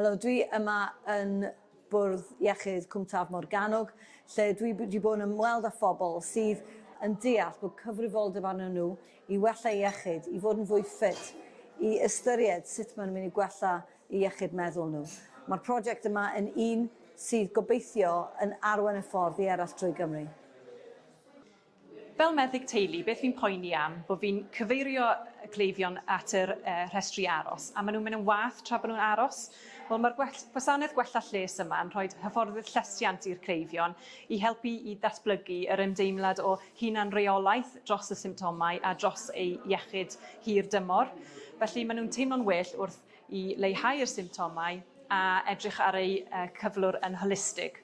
Helo, dwi yma yn bwrdd iechyd Cwm Taf Morgannwg, lle dwi wedi bod yn ymweld â phobl sydd yn deall bod cyfrifoldeb arnyn nhw i wella iechyd, i fod yn fwy ffit, i ystyried sut maen nhw'n mynd i gwella eu iechyd meddwl nhw. Mae'r prosiect yma yn un sydd gobeithio yn arwain y ffordd i eraill drwy Gymru. Fel meddyg teulu, beth fi'n poeni am, bod fi'n cyfeirio y cleifion at yr yy rhestri aros, a ma' nhw'n mynd yn wath tra bod nhw'n aros. Wel, ma'r gwell- gwasanaeth gwella lles yma yn rhoid hyfforddwyr llesiant i'r cleifion i helpu i ddatblygu yr ymdeimlad o hunanreolaeth dros y symptomau a dros eu iechyd hir dymor. Felly, ma' nhw'n teimlo'n well wrth i leihau'r symptomau a edrych ar eu yy cyflwr yn holistig.